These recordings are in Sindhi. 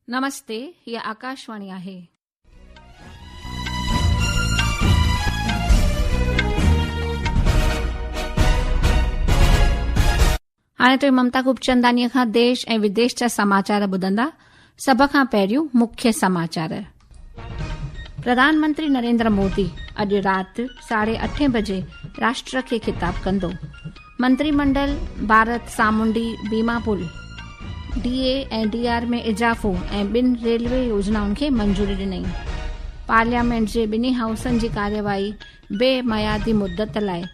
نمستي هي آڪاشواڻي آهي. هاڻي توهين ممتا گوپچنداني کان ديش ۽ وديش جا سماچار ٻڌندا سڀ کان پهريون مکيه سماچار. پرڌانمنتري نريندر مودي اڄ رات ساڍي اٺين بجي راشٽر کي خطاب ڪندو منتري منڊل ڀارت سامونڊي بيما پل ڊي اي ۽ ڊي آر ۾ اضافو ۽ ٻن ريلوي يوجنائن کي منظوري ڏني پارليامينٽ جي ٻنهي هائوسن جي ڪارروائي بي ميادي مدت لاء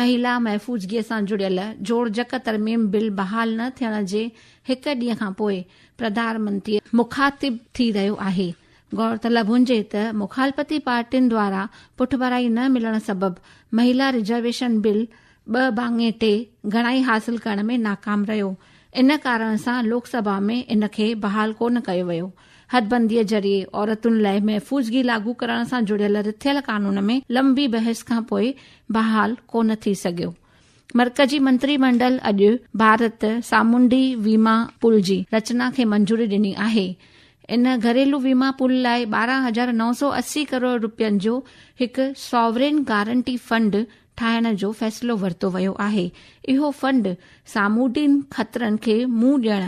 مهيلا محفوظگيء سان جڙيل جوڙجڪ ترميم بل بحال نه ٿيڻ جي هڪ ڏينهن کان پوء پرڌان منتري مخاطب ٿي رهيو آهي. غورطلب هجي ته مخالفتي پارٽين دوارا پٺڀرائي نه ملڻ سبب مهيلا رزرويشن بل ٻه ڀاڱي ٽي گهڻائي حاصل ڪرڻ ۾ ناڪام رهيو، ان ڪارڻ سان لوڪ سڀا ۾ ان کي بحال ڪونه ڪيو ويو. حدبنديء ذريعي عورتن لاء محفوظگي لاڳو ڪرڻ سان جڙيل رٿيل قانون ۾ لنبي بحث کان پوء بحال ڪو نه ٿي سگهيو. مرڪزي منتري منڊل اڄ ڀارت سامونڊي ويما پول جي رچنا کي منظوري ڏني آهي. ان گهريلو ويما پول لاء ٻارهن هزار نو سؤ اسي ڪروڙ روپين جو هڪ ساورين گارنٽي فنڊ ٺاهڻ جو فيصلو ورتو ويو آهي، اهو فنڊ سامونڊين خطرن کي منهن ڏيڻ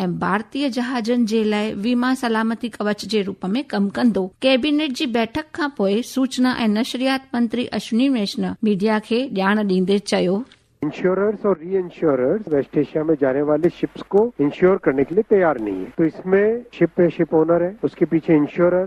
۽ ڀارتي جهازن جي لاء ويما سلامتي ڪوچ جي روپ ۾ ڪم ڪندو. ڪيبينيٽ جي بيٺڪ کانپوء سوچنا ۽ نشريات منتري اشوني ويشنو ميڊيا کي ڄاڻ ڏيندي چيو. انشوررز اور ری انشوررز ويسٽ ايشيا مين جاني والي شپس کو انشور کرني کي لئي تيار نهين هين تو اس مين شپ هي شپ اونر هي اس کي پيڇي انشورر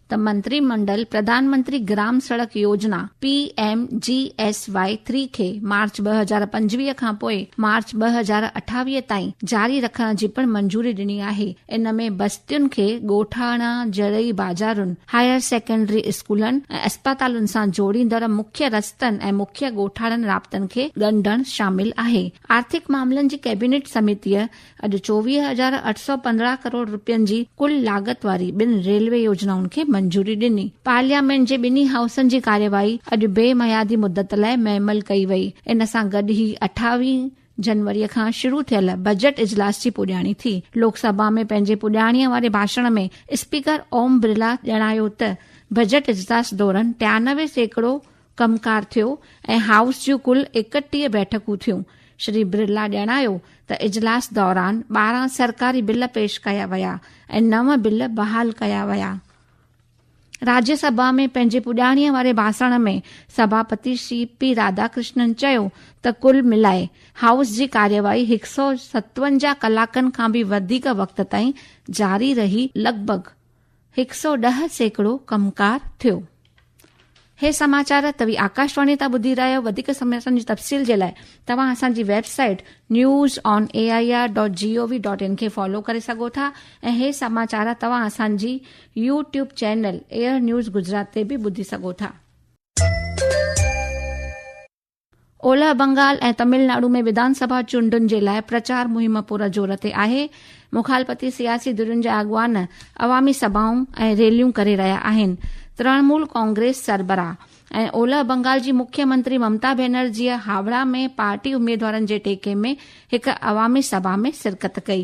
ته منتري منڊل پرڌان Mantri Gram Sadak Yojana, P M G S Y three, کي مارچ ٻه هزار پنجويهه کان پوء مارچ ٻه هزار اٺاويهه تائين جاري رکڻ جي پڻ منظوري ڏني آهي، ان ۾ بستين کي ڳوٺاڻا، زرعي بازارن، هائير سيڪنڊري اسڪولن ۽ اسپتالن سان جوڙيندڙ مکيه رستن ۽ مکيه ڳوٺاڻن رابطن کي ڳنڍڻ شامل آهي. آرٿڪ معاملن جي ڪيبينيٽ سميتيء اڄ چوويهه هزار اٺ سؤ پندرهن ڪروڙ رپين جي ڪل لاڳت واري ٻن ريلوي يوجنائن کي منظوري ڏني. پارليامينٽ جي ٻنهي هائوسن جي ڪارروائي اڄ بي ميعادي مدت لاء معمل ڪئي وئي. ان سان گڏ هي اٺاويهه جنوري کان شروع ٿيل بجيٽ اجلاس جي پڄاڻي ٿي. لوڪ سڀا ۾ پنهنجي پڄاڻي واري ڀاشڻ ۾ اسپيڪر اوم برلا ڄاڻايو ته بجيٽ اجلاس دوران ٽيانوي سيڪڙو ڪم ڪار ٿيو ۽ هائوس جون ڪل ايڪٽيهه بيٺڪون ٿيون. شري برلا ڄاڻايو ته اجلاس دوران ٻارهن سرڪاري بل پيش ڪيا ويا ۽ نو بل بحال ڪيا ويا. راجيا سڀا ۾ پنهنجي پڄاڻيء واري ڀاسڻ ۾ سڀاپتي شري پي راڌا ڪرشنن چيو ته ڪل ملائي هائوس جي ڪارروائي هڪ سؤ ستونجاهه ڪلاڪن کان به وڌيڪ وقت تائين جاري رهي لڳ ڀڳ هڪ سئو ڏهه سيڪڙو ڪمڪار ٿيو. هي سماچار توهي آڪاشواڻي تان ٻڌي رهيا آهيو وڌيڪ سماچارن جي تفصيل جي لاء توهان اسان جي website news on A I R dot G O V dot in کي فالو ڪري سگهو ٿا ۽ هي سماچار توهان اسان جي YouTube channel Air News Gujarat تي به ٻڌي سگهو ٿا. اولهه بنگال ۽ تمل ناڊو ۾ وڌان سڀا چونڊن جي لاء پرچار مهم پورا زور تي آهي، مخالفتي سياسي ڌرين جا اڳواڻ عوامي سڀائون ۽ ريليون ڪري رهيا آهن، ترڻمول ڪانگريس سربراهه ۽ اولهه بنگال جي مکيه منتري ممتا بئنرجيء هاوڙا ۾ پارٽي اميدوارن جي ٽيڪي ۾ هڪ عوامي سڀا ۾ شرڪت ڪئي،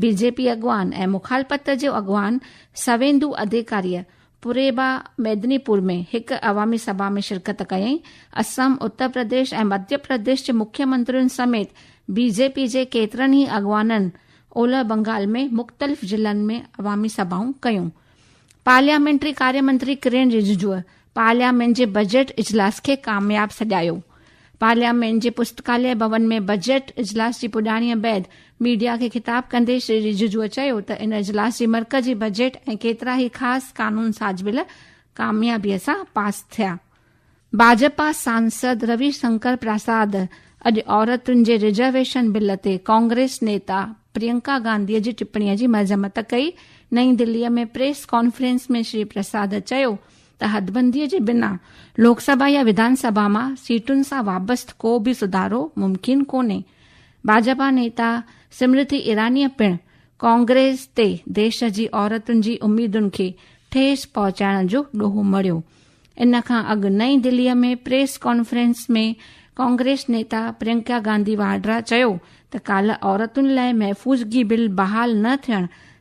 بي جي پي اڳواڻ ۽ مخالفت جو اڳواڻ سويندو اڌيڪاريء پورهيبا ميدني پور ۾ هڪ عوامي سڀا ۾ شرڪت ڪيائين. اسم، اتر پرديش ۽ مڌيه پرديش جي مکيه منترين سميت بي جي پي جي ڪيترن ئي اڳواڻن اولهه بنگال ۾ مختلف ضلعن ۾ عوامي سڀائون ڪيون. پارليامينٽري ڪاريه منتري ڪرين رججوء پارليامينٽ جي بجيٽ اجلاس کي ڪامياب سڏايو. پارليامينٽ جي پستڪاليه ڀون ۾ بجيٽ اجلاس جي پڄاڻيء بعد ميڊيا کي خطاب ڪندي شري رججوء چيو ته ان اجلاس جي مرڪزي بجيٽ ۽ ڪيترا ئي خاص قانون ساز بل ڪاميابيء سان پاس ٿيا. ڀاجپا سانسد روي شنڪر پراساد اڄ عورتن جي رزرويشن بل تي ڪانگريس نيتا پرينڪا گانڌيء جي ٽپڻي جي مذمت ڪئي. نئين دهليء ۾ پريس ڪانفرنس ۾ شري پراساد چيو ته حدبنديء جي بنا لوڪ سڀا يا وڌان سڀا مان سيٽن سان وابست ڪو به سڌارو ممڪن ڪونهي. ڀاجپا نيتا سمرٿي ايرانيء پڻ ڪانگريس تي ديش جي عورتن جي اميدن کي ٺيس پهچائڻ جو ڏوهه مڙهيو. ان کان اڳ نئين دهليء ۾ پريس ڪانفرنس ۾ ڪانگريس نيتا پرينڪا گانڌي واڊرا چيو ته ڪالهه عورتن لاء محفوظگي بل بحال نه ٿيڻ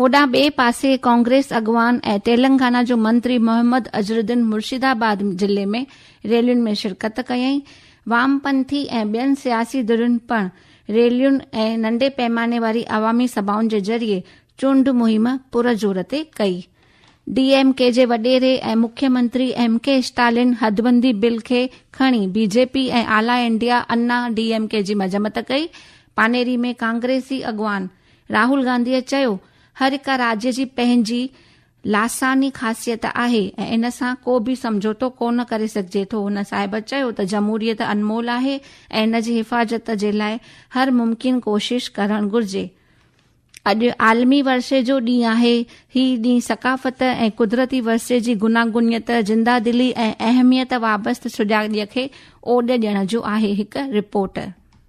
هوڏانهن ٻئي پاسي ڪانگريس اڳواڻ ۽ تيلنگانا جو منتري محمد اظهرالدين مرشد آباد ضلعي ۾ ريلين ۾ شرڪت ڪيائين. وام پنٿي ۽ ٻين سياسي ڌرين پڻ ريلين ۽ ننڍي پيماني واري عوامي سڀائن جي ذريعي چونڊ مهم پرزور تي ڪئي. ڊي ايم ڪي جي وڏيري ۽ مکي منتري ايم ڪي اسٽالين حدبندي بل کي کڻي بي جي پي ۽ اعليٰ India Anna D M K جي مذمت ڪئي. پانيري ۾ ڪانگريسي اڳواڻ راهول گانڌيء چيو، هر هڪ راڄ جي پنهنجي لاثاني خاصيت آهي ۽ ان سان ڪو به سمجهوتو ڪو نه ڪري سگهجي ٿو. هن صاحب چيو ته جمهوريت انمول آهي ۽ ان جي حفاظت جي لاء هر ممڪن ڪوشش ڪرڻ گهرجي. اڄ عالمي ورثي جو ڏينهن آهي. هي ڏينهن ثقافت ۽ قدرتي ورثي جي گوناگونيت، زنده دلي ۽ اهميت وابسته سجاڳيء کي اوڏ ڏيڻ جو آهي، هڪ report.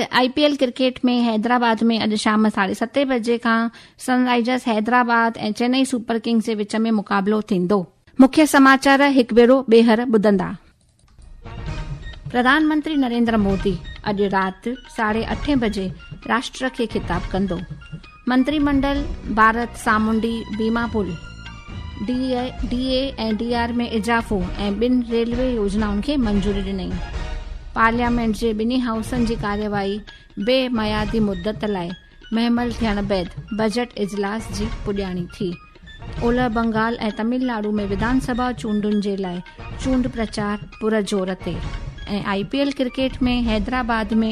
I P L cricket ۾ Hyderabad ۾ اڄ شام ساڍي ستين بجي کان Sun Risers Hyderabad ۽ Chennai super kings جي وچ ۾ مقابلو ٿيندو. مکيه سماچار هڪ ڀيرو ٻيهر ٻڌندا. پرڌان منتري نريندر مودي اڄ رات ساڍي اٺين بجي راشٽر کي خطاب ڪندو. منتري منڊل ڀارت سامونڊي بيما پل، ڊي اي ۽ ڊي آر ۾ اضافو ۽ ٻن ريلوي يوجنائن کي منظوري ڏني. پارليامينٽ جي ٻنهي هائوسن جي ڪارروائي بي ميعادي مدت لاء مهمل ٿيڻ بعد بجيٽ اجلاس جي پڄاڻي ٿي. اولهه بنگال ۽ تمل ناڊو ۾ وڌان سڀا چونڊن جي لاء چونڊ پرچار پر زور تي ۽ I P L cricket ۾ Hyderabad ۾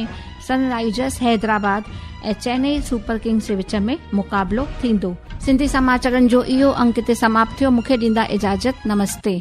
sunrisers Hyderabad ۽ Chennai super kings جي وچ ۾ مقابلو ٿيندو سنڌي سماچرن جو اهو انڪ هتي سماپت ٿيو مون کي ڏيندا اجازت نمستي.